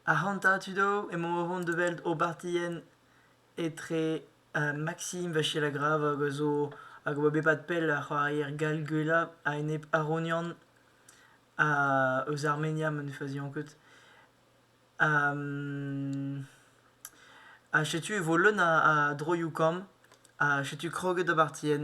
Ac'hanta tud all emaomp o vont da welt obertien etre Maksim Vachelagrave hag a zo hag a oa bet pad pell ar c'hoarier gall gwellañ a-enep Aronian eus Armenia ma ne fazian ket. Ha setu e vo leun a droioù kamm ha setu kroget obertien.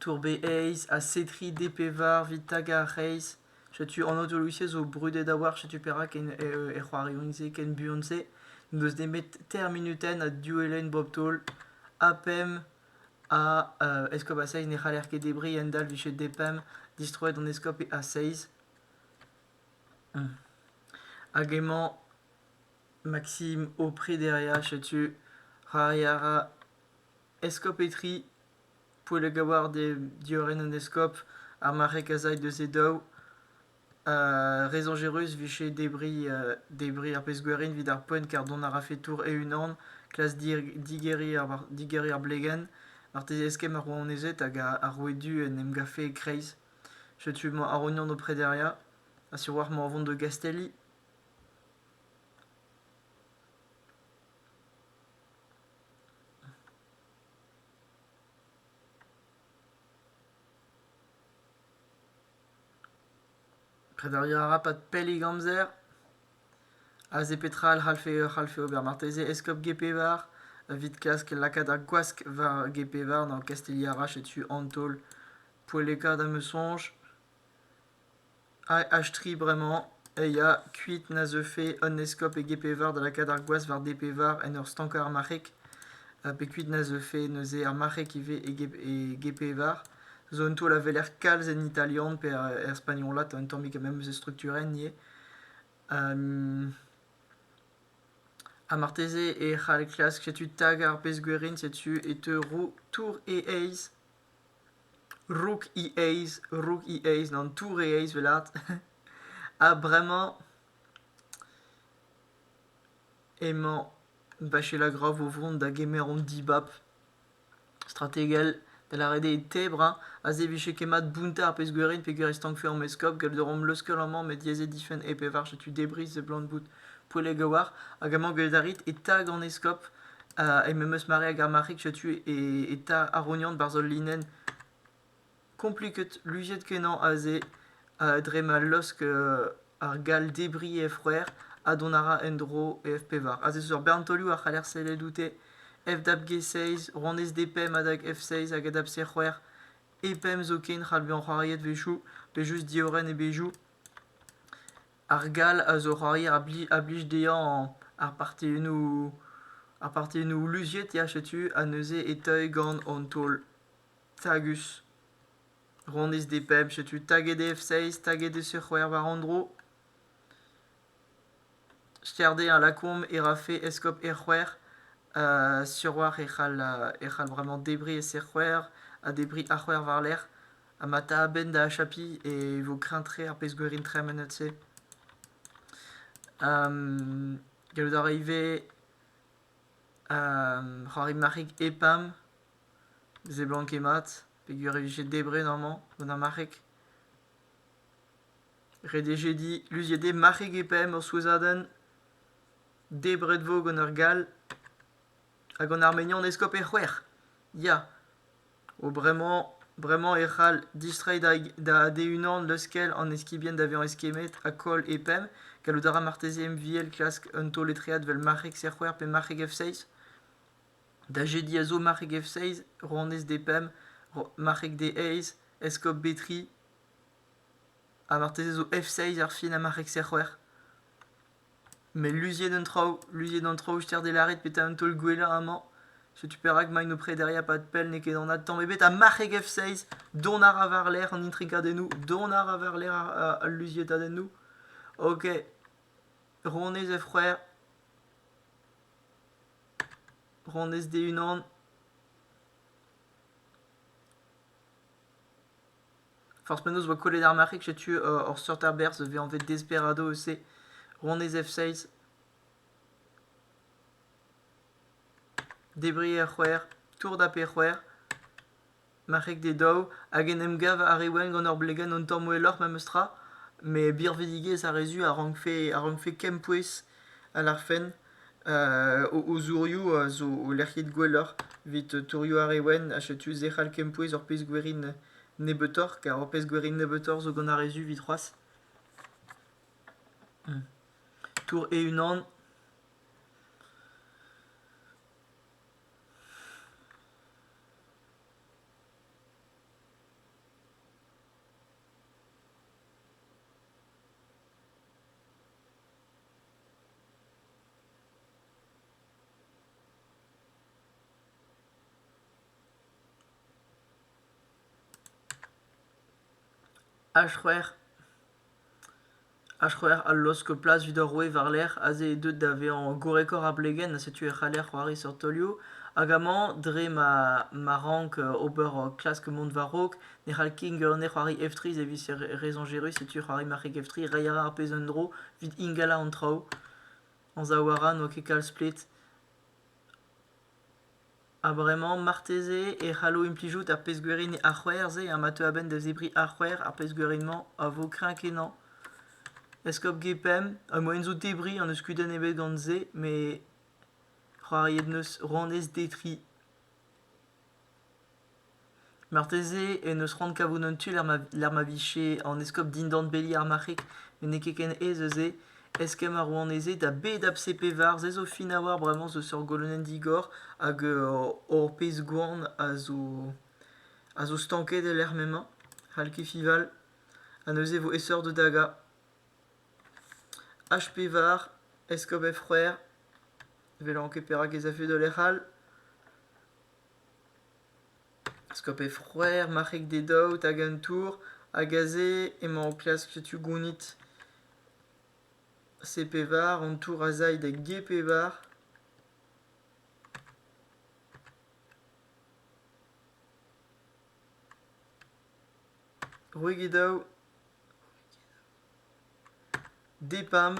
Tour-Be-Aez ha Setri D-pevar 'vit tagañ ar c'hreiz. Setu an aotolou-se zo brudet a-walc'h, setu perak en e c'hoarioù-se ken buan-se n'eus nemet teir munutenn ha div elenn bep-taol. Ha pemp a eskob a seizh ne c'haller ket debriñ, a-hend-all 'vije depemp distroet an eskob a seizh. Hag emañ Maksim o prederia, setu c'hoari a ra Eskob Etri, Poellgaward eo diorren an eskob, ar mare kasaek deus e daou. re soñjerus 'vije debriñ debriñ ar pezh-gwerin 'vit ar poent kar dont a rafe tour e-unan, klas digeriñ ar digeriñ ar blegenn. Marteze eskemm ar rouanezed hag ar roue du en em gavfe e-kreiz. Setu emañ Arognon o prederiañ ha sur 'walc'h emañ o vont da Gastelli. Prederiañ a ra pad pellik amzer. Aze petra a c'hallfe e c'hallfe ober marteze eskob Gepevar evit klask lakaat ar gwask war Gepevar gant Kastilha-Rach setu an taol poellekaat am eus soñj. AH3 bremañ eh ya kuit na zeufe un eskob e Gêpeveur da lakaat ar gwaz war Depeveur en ur stankañ ar marc'heg ha pe kuit na zeufe neuze ar marc'heg ivez e Ge- e Gêpeveur zo un taol a weler kalz en italian pe er spagnolat un tammig memes structurenn ivez ha marteze e c'hall klask setu stag ar pezh gwerin setu e teu roue tour e aez rook he aez rook he aez an tour he aez 'welat ha bremañ emañ Bachela Groff o vont da gemer an dibab strategel da lâret eo tebrañ a zebije ket mat bountañ ar pezh-gwerin peogwir e stankfe an eskob gallout a romp leuskel amañ met diaes eo difenn e pevar setu debris seblant bout Poelegaouar, hag amañ gwelet a rit, eta gant eskob, ha memes eus mare hag ar marc'hig setu eta Arognan barzh ul linenn kompliket, luziet-kenañ aze, dre ma laosk ar gall debriñ he froer ha dont a ra en-dro e F-pevar. Aze zo ur bern taolioù a c'haller sellet oute, F-dab G6, rouanez D-pemp adag F6 hag adab C-c'hwec'h, E-pemp zoken, c'hall bezañ c'hoariet 'wechoù, pe just diorren e bezhioù. Ar gall a zo c'hoarier a blij dezhañ ar partennoù ar partennoù luziet ya setu ha neuze e teuy gant an taol tagus honnezh d' e bemp setu taget eo f-seizh taget eo c-c'hwec'h war an dro ster dezhañ lakaomp e rafe eskob r-c'hwec'h sur 'walc'h e c'hall e c'hall vremañ debriñ e c-c'hwec'h ha debriñ a-c'hwec'h war-lerc'h. Ha ma ta a-benn da achapiñ e vo kreñv-tre ar pezh-gwerin tremenet-se. Gallout a ra ivez c'hoari marc'heg EPAM, seblanket mat, peogwir e vije debret amañ gant ar marc'heg. Ret e vije dit luziet eo marc'heg EPAM ur souezhadenn. Debret vo gant ur gall. Ha gant ar mignon eskob e c'hwec'h. Ya! O bremañ, bremañ e c'hall distreiñ da ade-unan leuskel an eskibien da vezañ eskemmet ha koll e pemp. Gallout a ra marteze MVL klask un taol-etread evel marc'heg Serc'hwec'h pe marc'heg F6. Da jediñ a zo marc'heg F6, rouanez D-pemp, marc'heg D-eizh, eskob B-tri. Ha marteze zo F6 ar fin ha marc'heg Serc'hwec'h. Met luziet an traoù, luziet an traoù ster d'e lâret petra an taol gwellañ amañ. Setu perak emaint o prederiñ a-pad pell, n'eo ket an adtamm ebet. Ha marc'heg F6, dont a ra war-lerc'h an intrigadennoù, dont a ra war-lerc'h a- al luziatadennoù. Ok, Ronez F-c'hwec'h, Ronez D-unan. Forzh penaos 'oa kollet ar marc'heg, setu hor seurt aberzh a vez anvet Desperado eus-se, ronez F-seiz. Debriñ er c'hwec'h, tourdap er c'hwec'h, marc'heg d'e daou, hag en em gav ar re wenn gant ur blegenn un tamm welloc'h memestra, met birvidigezh ar re zu a rankfe a rankfe kempouez a lârfen. O zourioù zo lec'hiet gwelloc'h evit tourioù ar re wenn ha setu se c'hall kempouez ur pezh gwerin nebeutoc'h kar ur pezh gwerin nebeutoc'h zo gant ar re zu evit c'hoazh. Tour e-unan. Ar c'hwec'h a laosk plas evit ar roue war-lerc'h aze eo deuet da vezañ gorrekoc'h ar plegenn ha setu e c'haller c'hoari seurt taolioù hag amañ dre ma rank ober klask mont war-raok Ne c'hall keñver nec'hoari F3 servij re soñjerus, setu c'hoari marc'heg F3 reiñ a ra ar pezh un dro evit ingalañ an traoù. Anzav a ra n'oa ket kalz plet. Ha bremañ, marteze e c'hallo implijout ar pezh-gwiriñ a-c'hwec'h-se ha ma teu a-benn da zebriñ a-c'hwec'h ar pezh-gwiriñ-mañ a vo kreñv-kenañ. Eskob G5, ar mojenn zo debriñ n'eus kudenn ebet gant se, met c'hoariet 'neus rouanez D3. Marteze en deus c'hoant kavout un tu lec'h ma vije an eskob dindan beli ar marc'heg met n'eo ket ken aes eus se. Eskemm ar rouanezed ha bed ABCPVAR se zo fin a-walc'h bremañ zo seurt golonenn digor hag hor pezh-gwan a zo stanket e-lec'h m'emañ. C'hall ket fival ha neuze e vo aesoc'h da dagañ. H. Pevar, eskob Efc'hwer, ne welan ket perak ez afe da lec'h all. Eskob Efc'hwer, marc'heg d'e daout hag an tour, hag aze emañ o klask setu gounit C. Pevar, an tour a zay da G. Pevar. C'hwek e daou. Depam,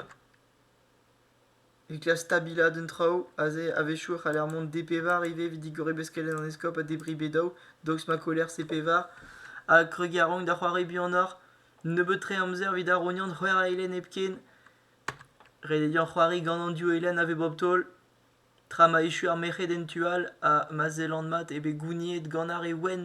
evit klask stabilaat an traoù aze a-wechoù e c'haller mont D-pevar ivez evit digoriñ beskelenn an eskob ha debriñ bedaoù daoust ma koller C-pevar ha kregiñ a-raok da c'hoari buanoc'h nebeut-tre amzer evit arognan c'hwec'h eilenn hepken redediañ c'hoari gant an div eilenn a vez bep taol tra ma echu ar merc'hed en tu all ha ma sellan mat eo bet gouniet gant ar re wenn.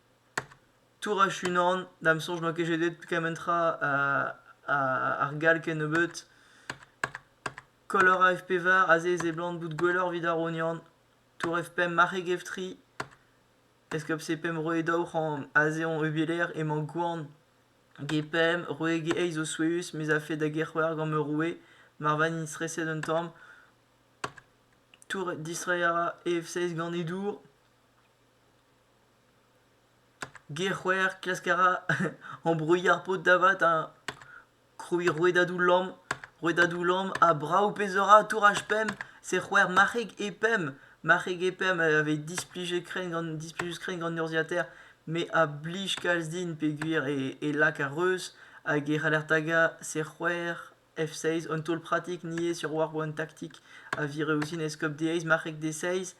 Tour a-unan, da'm soñj n'oa ket jedet kement tra ar gall kennebeut. Color AFP var aze seblant bout gwelloc'h evit ar rognan. Tour F5 marc'heg F3. Eskop C5 roe daou c'hant aze on eubilaer emañ gwan. G5 roe G8 zo souezhus mez afe da G-c'hwec'h gant ma roue mar vagn streset un tamm. Tour distreiñ a ra EF6 gant e dour. Ger-c'hwec'h, klask a ra ambruilh ar paotr da vat ha krouiñ rouedadoù lamm. Rouedadoù lamm ha brav pezh a ra touraj pemp. Se c'hwec'h marc'heg e pemp. Marc'heg e pemp a vez displijet-krenn gant displijus-krenn gant urzhiataer met a blij kalz din peogwir e lak ar reuz hag e c'haller tagañ se c'hwec'h. F6, un taol pratik niaes sur war an taktik a vire ouzhin eskob D6, marc'heg D6.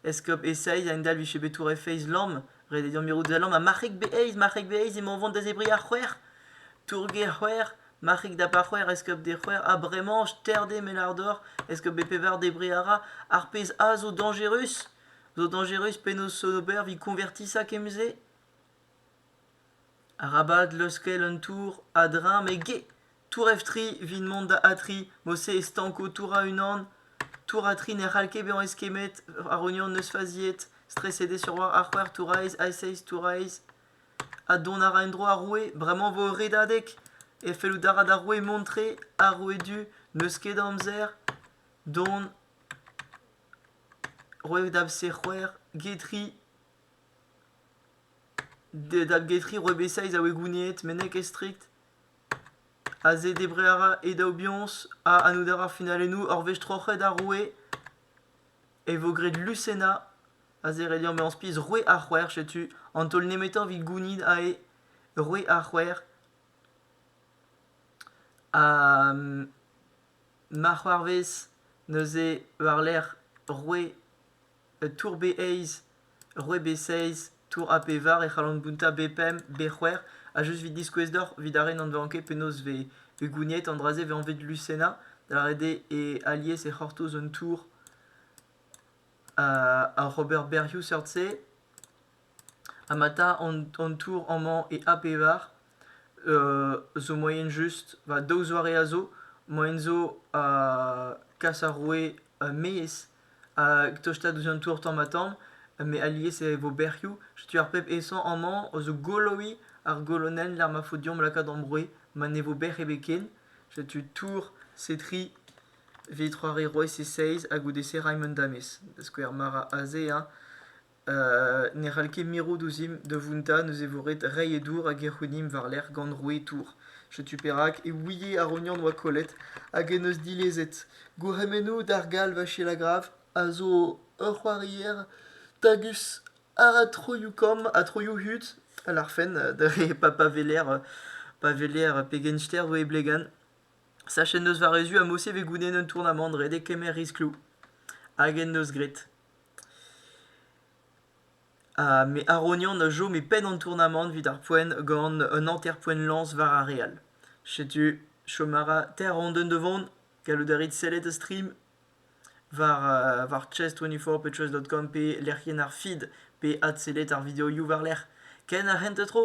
Eskob E6 a endalv vije bet tour F6 lamm. Ret eo deomp mirout da lamm. Ha marc'heg B8, marc'heg B8 emañ o vont da zebriñ ar c'hwec'h. Tour G6, marc'heg da par c'hwec'h, eskob D6. Ha bremañ, terre-d eo melar dor. Eskob B pevar, debriñ a ra. Ar pezh A zo dañjerus. Zo dañjerus, penaos Sonober 'vit konvertiñ ça kement-se? Arabat leuskel an tour a-dreñv met get ! Tour F3 evit mont da A3 mod-se e stanko tour A1. Tour A3 ne c'hall ket bezañ eskemmet ar union neus faziet. Streset eo sur war ar c'hwec'h tour aes, A6 tour aes. Ha dont a ra en-dro ar roue bremañ vo ur redadeg. E fellout a ra d'ar roue mont-tre. Ar roue du n'eus ket amzer. Dont. Roue da fc c'hwec'h get ri. Dalgetri Rebesaiz a oe gouniet mennek e strikt. Aze debret a ra e daou biañs ha annout a ra finalennoù ur wech troc'het ar roue. E vo graet Lucena. Aze ret deomp bezañ spis roue ar c'hwec'h, setu an taol nemetañ evit gounit aze roue ar c'hwec'h. Ha ma c'hoarvez neuze war-lerc'h roue un tour-bez eizh, ur c'hwezh-bez seizh, tour A pevar e c'hallan bountañ B5, B c'hwec'h ha just evit diskouez deoc'h evit ar re n'anveont ket penaos vez vez gouniet an dra-se vez anvet lusenna da lâret eo e alies e c'hortoz un tour ar ober berrioù seurt-se Anata an tour amañ e A pevar zo moaien just. Va daou zoare a zo. Moaien zo kas ar roue maez hag tostaat ouzh an tour tamm-ha-tamm met alies e vo bec'hioù. Setu ar pep aesañ amañ zo goloiñ ar golonenn lec'h ma faot deomp lakaat hor broioù ma ne vo bec'h ebet ken. Setu tour Setri evit c'hoari Rois e seizh ha goude-se Raymond Damez da skouer mara aze hein. ne c'hall ket mirout ouzhimp da vountañ neuze e vo ret reiñ e dour hag e c'hounimp war-lerc'h gant rouetour. Setu perak e ouie ar ognon oa kollet hag en deus dilezet. Gourc'hemennoù d'ar gall Vachelagrav a zo ur c'hoarier tagus a ra troioù kamm ha troioù hud a larfen dre pa pa weler pa weler pegen ster vo e blegan. Sachet en deus varezioù ha morse e vez goulennet un tournamant ret e kemer riskloù hag en deus graet. Ha me Arognon a chome penn an tournamant 'vit ar poent gant un hanter-poent lañs war ar re all. Setu chom a ra teir randenn da vont. Gallout a rit sellet a-strim war war chess24 pe chess.com pe lec'hienn ar feed pe adsellet ar videoioù war-lerc'h. Ken ar c'hentañ tro.